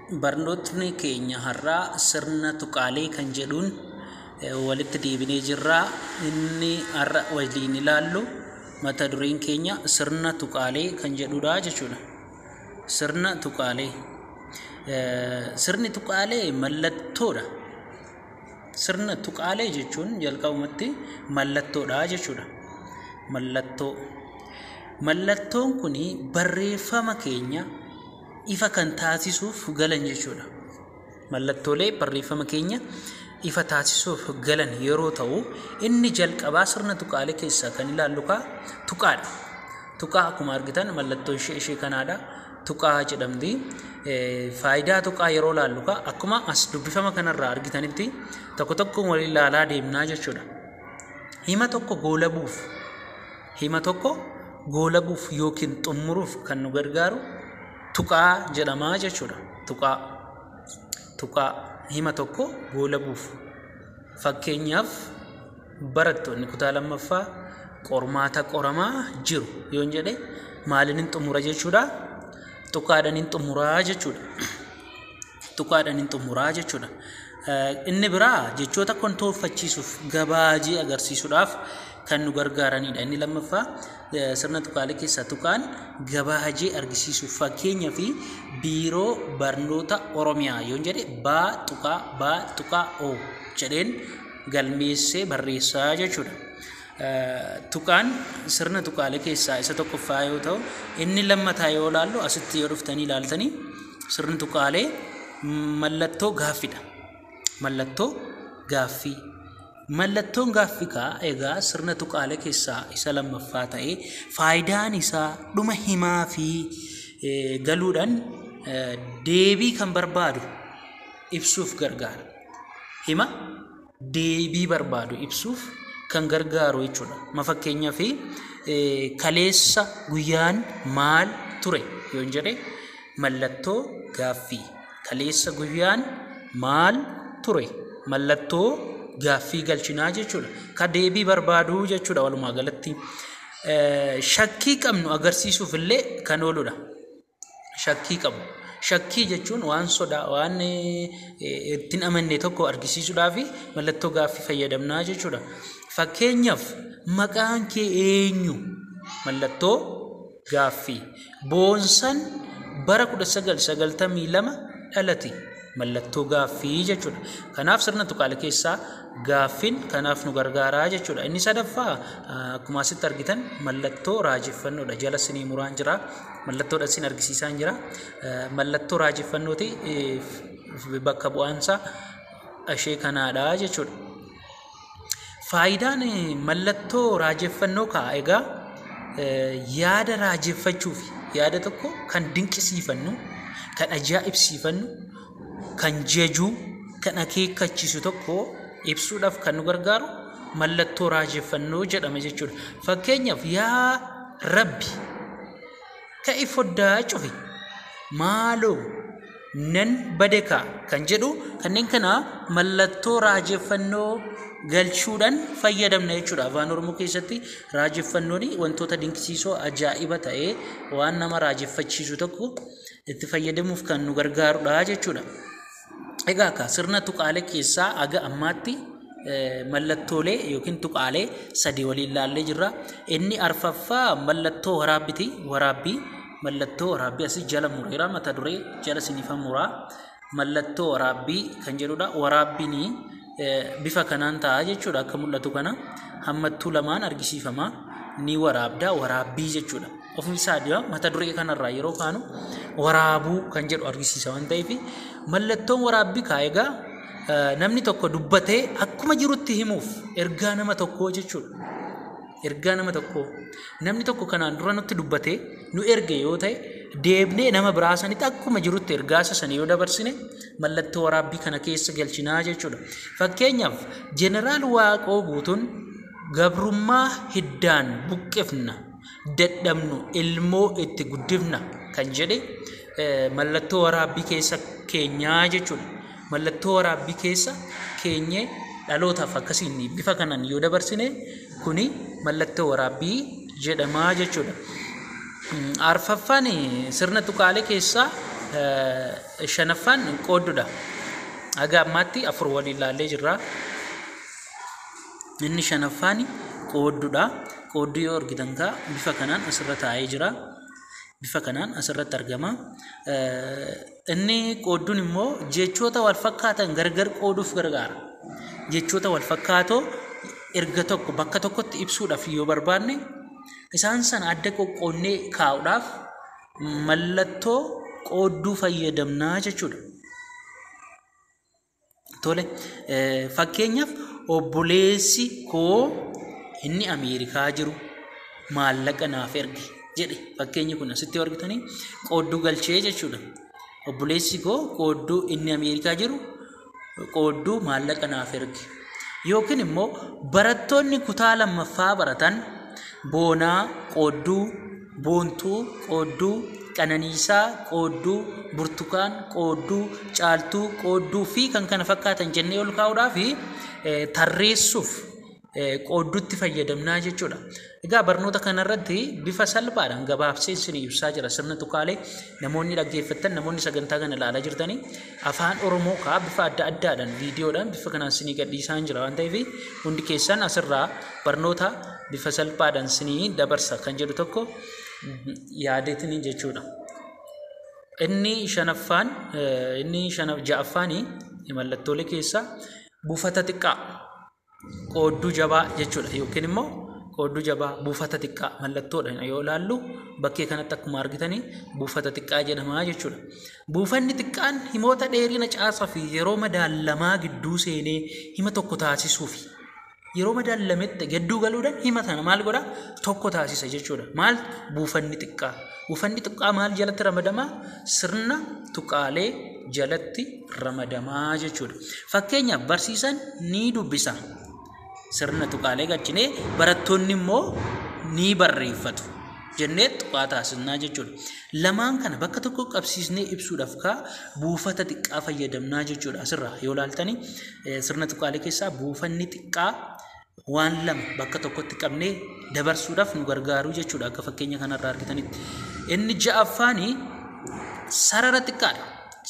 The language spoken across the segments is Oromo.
Barnootni keenya har'aa sirna tuqaalee kan jedhuun eh, walitti deebinee jirra. Inni har'a waliin ilaallu mata dureen keenya sirna tuqaalee kan jedhudha jechuudha. Sirna tuqaalee. Eh, Sirni tuqaalee mallattoodha. Sirna tuqaalee jechuun jalqabumatti mallattoodha jechuudha. Mallattoo. Mallattoon kun barreeffama keenya ifa kan taasisuuf galan jechuudha. Mallattoolee barreeffama keenya ifa taasisuuf galan yeroo ta'u inni jalqabaa sirna tuqaalee keessaa kan ilaallu kaa tuqaadha. Tuqaa akkuma argitan mallattoo ishee ishee kanaadha. Tuqaa jedhamti. Faayidaa tuqaa yeroo ilaallu kaa akkuma as dubbifama kanarraa argitanitti tokko tokkoon waliin ilaalaa deemnaa jechuudha. Hima tokko goolabuuf Hima tokko goolabuuf yookiin xummuruuf kan nu gargaaru tuqaa jedhama jechuudha. Tuqaa tuqaa hima tokko goolabuuf fakkeenyaaf barattoonni kutaa lammaffaa qormaata qoramaa jiru yoon jedhe maaliin hin xumura jechuudha. Tuqaadhaan hin xumuraa jechuudha. Tuqaadhaan hin xumuraa jechuudha. Inni biraa jechoota kontooffachiisuuf gabaajii agarsiisuudhaaf kan nu gargaaranidha. Inni lammaffaa sirna tuqaalee keessaa tuqaan gabaajii argisiisuuf fakkeenya fi biiroo barnoota Oromiyaa yoon jedhe baa tuqaa baa tuqaa o jedheen galmeessee barreessaa jechuudha. Tuqaan sirna tuqaalee keessaa isa tokkoffaa yoo ta'u, inni lammataa yoo ilaallu asitti yoo dhuftanii ilaaltanii sirni tuqaalee mallattoo gaaffidha. Mallattoo gaaffii. Mallattoon gaaffikaa egaa sirna tuqaalee keessaa isa lammaffaa ta'ee faayidaan isaa dhuma himaa fi galuudhaan deebii kan barbaadu ibsuuf gargaara. Hima deebii barbaadu ibsuuf kan gargaaru jechuudha. Ma fakkeenyaaf kaleessa guyyaan maal ture yoon jedhe mallattoo gaaffii. Kaleessa guyyaan maal ture mallattoo gaaffii galchinaa jechuudha. Ka deebii barbaadu jechuudha walumaa galatti. Eh, Shakkii qabnu agarsiisuuf illee kan ooludha. shakkii qabu. Shakkii jechuun waan sodaa waan ittiin amanne tokko argisiisuudhaaf mallattoo gaaffii fayyadamnaa jechuudha. Fakkeenyaaf maqaan kee eenyu? Mallattoo gaaffii. Boonsan bara 1992 dhalate. mallattoo gaaffii jechuudha. Kanaaf sirna tuqaalee keessaa gaaffiin kanaaf nu gargaaraa jechuudha. Inni sadaffaa akkuma asitti argitan mallattoo raajeffannoodha. Jala sinii muraan jira. Mallattoodha sin argisiisaan jira. Mallattoo raajeffannooti bakka bu'aansa ishee kanaadha jechuudha. Faayidaan mallattoo raajeffannoo ka'a egaa yaada raajeffachuuf yaada tokko kan dinqisiifannu kan ajaa'ibsiifannu kan jajuu kan akeekkachiisu tokko ibsuudhaaf kan nu gargaaru mallattoo raajeffannoo jedhama jechuudha. Fakkeenyaaf yaa rabbi Ka'i foddaa cufi. Maaloo nan badekaa kan jedhu kanneen kana mallattoo raajeffannoo galchuudhaan fayyadamna jechuudha. Afaan Oromoo keessatti raajeffannoon wantoota dinqisiisoo ajaa'iba ta'ee waan nama raajeffachiisu tokko itti fayyadamuuf kan nu gargaarudha jechuudha. Egaa akka sirna tuqaalee keessaa aga ammaatti mallattoolee yookiin tuqaalee sadii waliin ilaallee jirra. Inni arfaffaa mallattoo waraabbiti. Waraabbii mallattoo waraabbii asii jala mureera mata duree jala sinifa muraa. Mallattoo waraabbii kan jedhudha. Waraabbiin bifa kanaan ta'a jechuudha akka mul'atu kana. Hammattuu lamaan argisiifama. Ni waraabda waraabbii jechuudha. ofiisaa dura mata duree kanarraa yeroo kaanu waraabuu kan jedhu argisiisa waan ta'eef mallattoon waraabbii kaa egaa namni tokko dubbatee akkuma jirutti himuuf ergaa nama tokkoo jechuudha. Ergaa nama tokkoo namni tokko kanaan dura nutti dubbatee nu erge yoo ta'e deebnee nama biraa sanitti akkuma jirutti ergaa isa sana yoo dabarsine mallattoo waraabbii kana keessa galchinaa jechuudha. Fakkeenyaaf jeneraal Waaqoo guutuun gabrummaa hiddaan buqqifna. dadhabnu ilmoo itti guddifna kan jedhe mallattoo waraabbii keessa keenyaa jechuudha. Mallattoo waraabbii keessa keenyee dhalootaaf akkasiin bifa kanaan yoo dabarsine kuni mallattoo waraabbii jedhamaa jechuudha. Arfaffaan sirna tuqaalee keessaa shanaffaan qooddudha. Haga ammaatti afur waliin ilaallee jirra. Inni shanaffaan qoodduudha. Qoodduu yoo argitan kaa bifa kanaan asirra taa'ee jira. Bifa kanaan asirratti argama. Inni qoodduun immoo jechoota wal fakkaatan gargar qooduuf gargaara. Jechoota wal fakkaatoo erga tokko bakka tokkotti ibsuudhaaf yoo barbaanne isaan sana adda qoqqoonnee kaa'uudhaaf mallattoo qoodduu fayyadamnaa jechuudha. Tole fakkeenyaaf obboleessi koo inni Ameerikaa jiru maallaqa naaf erge jedhe fakkeenyi kun asitti argitanii qoodduu galchee jechuudha. Obboleessi koo qoodduu inni Ameerikaa jiru qoodduu maallaqa naaf erge. Yookiin immoo barattoonni kutaa lammaffaa baratan boonaa qoodduu Boontuu, Qoodduu, Qananiisaa, Qoodduu, Burtukaan, Qoodduu, Caaltuu, Qoodduu fi kan kana fakkaatan jennee ol kaa'uudhaa fi tarreessuuf qoodduutti fayyadamnaa jechuudha. Egaa barnoota kanarratti bifa salphaadhaan gabaabsee isin ibsaa jira sirna tuqaalee namoonni dhaggeeffattan namoonni sagantaa kana ilaalaa jirtanii afaan Oromoo kaa bifa adda addaadhaan viidiyoodhaan bifa kanaan isinii gadhiisaan jira waan ta'eef hundi keessan asirraa barnoota bifa salphaadhaan sinii dabarsa kan jedhu tokko yaadeetini jechuudha. Inni shanaffaan inni shana ja'affaani mallattoolee keessaa buufata xiqqaa qoodduu jabaa jechuudha yookiin immoo qoodduu jabaa buufata xiqqaa mallattoodhaan yoo ilaallu bakkee kanatti akkuma argitanii buufata xiqqaa jedhamaa jechuudha. Buufanni xiqqaan himoota dheerina caasaa fi yeroo madaallamaa gidduu seenee hima tokko taasisuufi. yeroo madaallametti gadduu galuudhaan hima sana maal godha tokko taasisa jechuudha. Maal buufanni xiqqaa. Buufanni xiqqaa maal jalatti ramadamaa? Sirna tuqaalee jalatti ramadamaa jechuudha. Fakkeenyaaf barsiisaan ni dubbisa. Sirna tuqaalee galchinee barattoonni immoo ni barreeffatu. jennee tuqaa taasisnaa jechuudha. Lamaan kana bakka tokko qabsiisnee ibsuudhaaf kaa buufata xiqqaa fayyadamnaa jechuudha asirraa yoo laaltanii Eh, Sirna tuqaalee keessaa buufanni xiqqaa waan lama bakka tokkotti qabnee dabarsuudhaaf nu gargaaru jechuudha akka fakkeenya kanarraa argitanitti. Inni ja'affaani sarara xiqqaadha.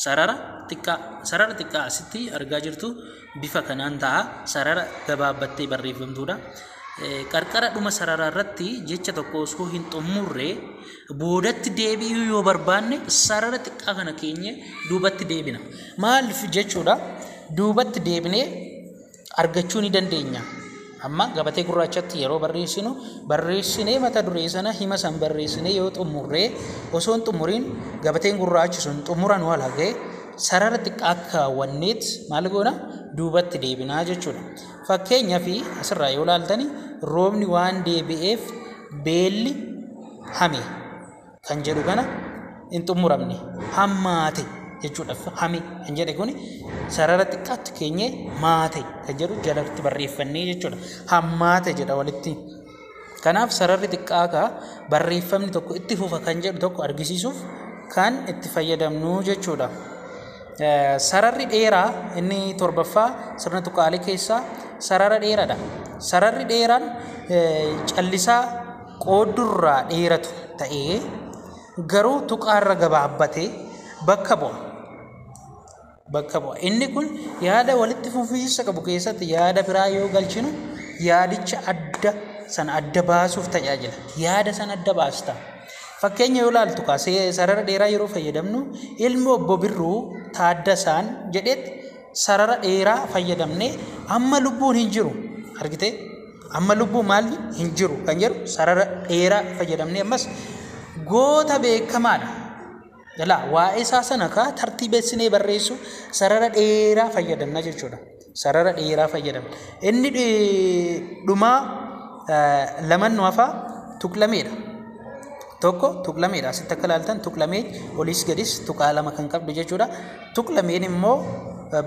Sarara xiqqaa sarara xiqqaa asitti argaa jirtu bifa kanaan ta'a. Sarara gabaabbattee barreeffamtuudha. Eh, Qarqara dhuma sararaa irratti jecha tokko osoo hin xumurre Boodatti deebi'uu yoo barbaanne sarara xiqqaa kana keenye duubatti deebina. Maaliif jechuudha duubatti deebinee argachuu ni dandeenya. Amma gabatee gurraachatti yeroo barreessinu barreessinee mata duree sana hima san barreessinee yoo xumurree osoo hin xumuriin gabateen gurraachi sun xumura nu halagee sarara xiqqaa kaawwanneet maal goona duubatti deebinaa jechuudha. Fakkeenyaaf asirraa yoo laaltani roobni waan deebi'eef beelli hame kan jedhu kana hin xumuramne hammaate jechuudha hame kan jedhe kun sarara xiqqaatti keenye maate kan jedhu jalatti barreeffannee jechuudha hammaate jedha walitti kanaaf sararri xiqqaa kaa barreeffamni tokko itti fufa kan jedhu tokko argisiisuuf kan itti fayyadamnu jechuudha. Sararri dheeraa inni torbaffaa sirna tuqaalee keessaa sarara dheeraadha. Sararri dheeraan callisaa qooddurraa dheeratu ta'ee garuu tuqaarra gabaabbatee bakka bu'a. Bakka bu'a. Inni kun yaada walitti fufiinsa qabu keessatti yaada biraa yoo galchinu yaadicha adda sana adda baasuuf tajaajila. Yaada sana adda baasta. Fakkeenya yoo ilaaltu kaa sarara dheeraa yeroo fayyadamnu ilmi obbo Birruu Taaddasaan jedhetti sarara dheeraa fayyadamne amma lubbuun hin jiru argitee Amma lubbuu maalli hin jiru kan jedhu sarara dheeraa fayyadamnee ammas goota beekamaadha. Jalaa waa'ee isaa sana kaa tartiibessinee barreessuu sarara dheeraa fayyadamna jechuudha. Sarara dheeraa fayyadamna. Inni dhumaa laman nu hafaa tuqlameedha. Tokko tuqlameedha. Asitti akka ilaaltan tuqlamee oliis gadis tuqaa lama kan qabdu jechuudha. Tuqlameen immoo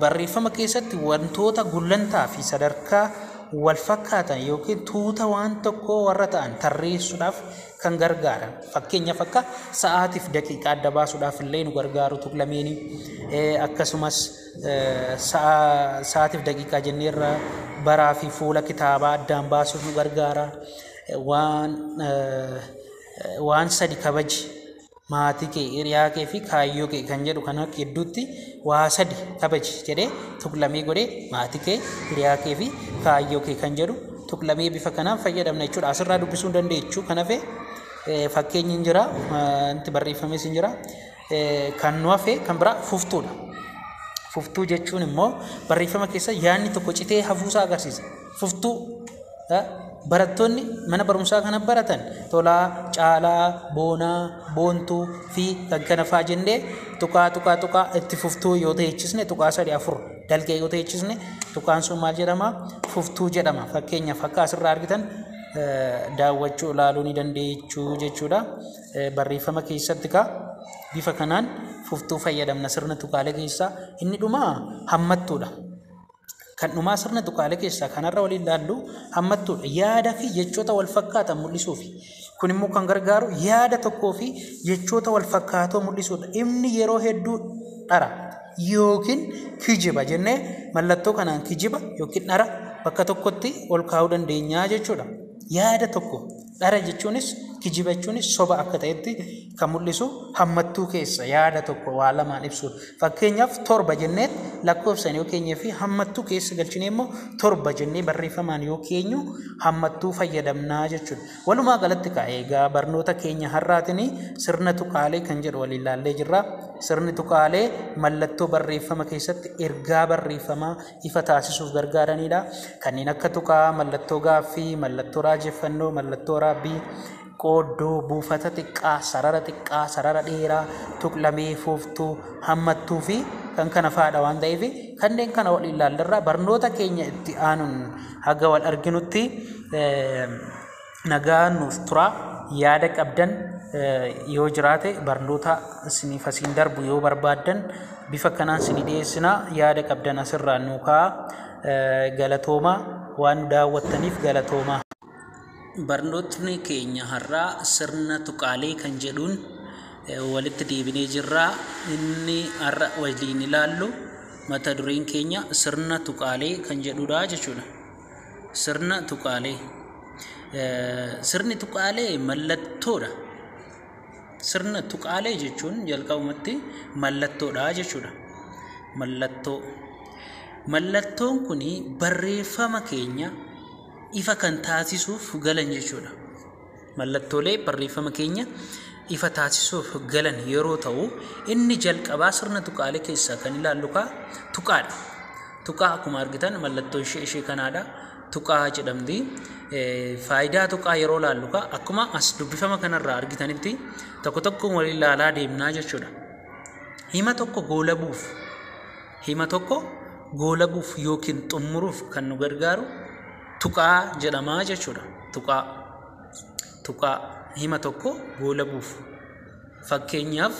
barreeffama keessatti wantoota gullantaa fi sadarkaa walfakkaatan yookiin tuuta waan tokkoo warra ta'an tarreessuudhaaf kan gargaaran fakkeenyaaf akka sa'aatiif daqiiqaa adda baasuudhaaf illee nu gargaaru tuqlameeni akkasumas sa'aatiif daqiiqaa jenneerra baraa fi fuula kitaabaa addaan baasuuf nu gargaara waan waan sadi kabaji maatii kee, hiriyaa kee fi kaayyoo kee kan jedhu kana gidduutti waa sadi kabaji jedhee tuqlamee godhee maatii kee, hiriyaa kee fi kaayyoo kee kan jedhu tuqlamee bifa kanaan fayyadamna jechuudha. Asirraa dubbisuu dandeechu kan hafe fakkeenyi hin jira, wanti barreeffames hin jira. Kan nu hafe kan biraa fuftuudha. Fuftuu jechuun immoo barreeffama keessa yaadni tokko citee hafuusaa agarsiisa. Fuftuu, eh, Barattoonni mana barumsaa kana baratan Tolaa, Caalaa, Boonaa, Boontuu fi kan kana faa jennee tuqaa tuqaa tuqaa itti fuftuu yoo ta'echisne tuqaa sadii afur dalgee yoo ta'echisne tuqaan sun maal jedhama? Fuftuu jedhama. Fakkeenyaaf akka asirraa argitan eh, daawwachuu ilaaluu ni dandeechuu jechuudha. Eh, Barreeffama keessatti kaa bifa kanaan fuftuu fayyadamna sirna tuqaalee keessaa inni dhumaa hammattuudha. Kan dhumaa sirna tuqaalee keessaa kanarra waliin ilaallu hammattuudha. Yaada fi jechoota wal fakkaatan mul'isuufi. Kun immoo kan gargaaru yaada tokkoo fi jechoota wal fakkaatoo mul'isuudha. Inni yeroo hedduu dhara yookiin kijiba jennee mallattoo kanaan kijiba yookiin dhara bakka tokkotti ol kaa'uu dandeenya jechuudha. Yaada tokko Dhara jechuunis, kijiba jechuunis soba akka ta'etti kan mul'isu hammattuu keessa yaada tokko waa lamaan ibsuudha. Fakkeenyaaf torba jennee lakkoofsaan yoo keenyee fi hammattuu keessa galchinee immoo torba jennee barreeffamaan yoo keenyu hammattuu fayyadamnaa jechuudha. Walumaa galatti kaa eegaa barnoota keenya har'aatiin sirna tuqaalee kan jedhu waliin ilaallee jirra. Sirni tuqaalee mallattoo barreeffama keessatti ergaa barreeffamaa ifa taasisuuf gargaaraniidha. Kanneen akka tuqaa, mallattoo gaaffii, mallattoo raajeffannoo, mallattoo raabbii, qooddoo, buufata xiqqaa, sarara xiqqaa, sarara dheeraa, tuqlamee, fuuftuu, hammattuu fi kan kana faadha waan ta'eef kanneen kana wal ilaallarraa barnoota keenya itti aanuun haga wal arginutti nagaa nuuf turaa yaada qabdan yoo jiraate barnoota isiniif asiin darbu yoo barbaaddan bifa kanaan isinii dhiyeessina yaada qabdan asirraa nuu ka'aa galatooma waan nu daawwattaniif galatooma. Barnootni keenya har'aa sirna tuqaalee kan jedhuun walitti deebinee jirra inni har'a waliin ilaallu mata dureen keenya sirna tuqaalee kan jedhudha jechuudha. Sirna tuqaalee. Sirni tuqaalee mallattoodha. Sirna tuqaalee jechuun jalqabumatti mallattoodha jechuudha. Mallattoo. Mallattoon kun barreeffama keenya ifa kan taasisuuf galan jechuudha. Mallattoolee barreeffama keenya ifa taasisuuf galan yeroo ta'u inni jalqabaa sirna tuqaalee keessaa kan ilaallu kaa tuqaadha. Tuqaa akkuma argitan mallattoo ishee ishee kanaadha. Tuqaa jedhamti. Faayidaa tuqaa yeroo ilaallu kaa akkuma as dubbifama kanarraa argitanitti tokko tokkoon wal ilaalaa deemnaa jechuudha. Hima tokko goolabuuf hima tokko goolabuuf yookiin xumuruuf kan nu gargaaru tuqaa jedhama jechuudha. Tuqaa tuqaa hima tokko goolabuuf fakkeenyaaf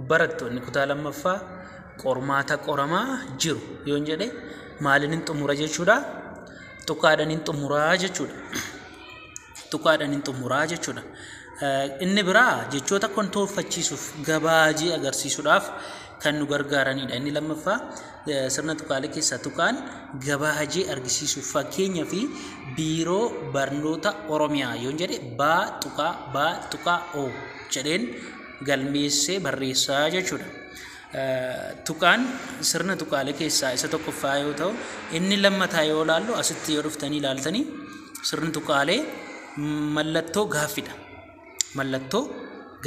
barattoonni kutaa lammaffaa qormaata qoramaa jiru yoon jedhe maaliin hin xumura jechuudha. Tuqaadhaan hin xumuraa jechuudha. Tuqaadhaan hin xumuraa jechuudha. Inni biraa jechoota kontooffachiisuuf gabaajii agarsiisuudhaaf kan nu gargaaranidha. Inni lammaffaa Sirna tuqaalee keessaa tuqaan gabaa hajii argisiisuuf fakkeenyaa fi biiroo barnoota Oromiyaa yoon jedhe baa tuqaa baa tuqaa o jedheen galmeessee barreessaa jechuudha. Tuqaan sirna tuqaalee keessaa isa tokkoffaa yoo ta'u inni lammataa yoo laallu asitti yoo dhuftanii ilaaltanii sirni tuqaalee mallattoo gaaffidha. Mallattoo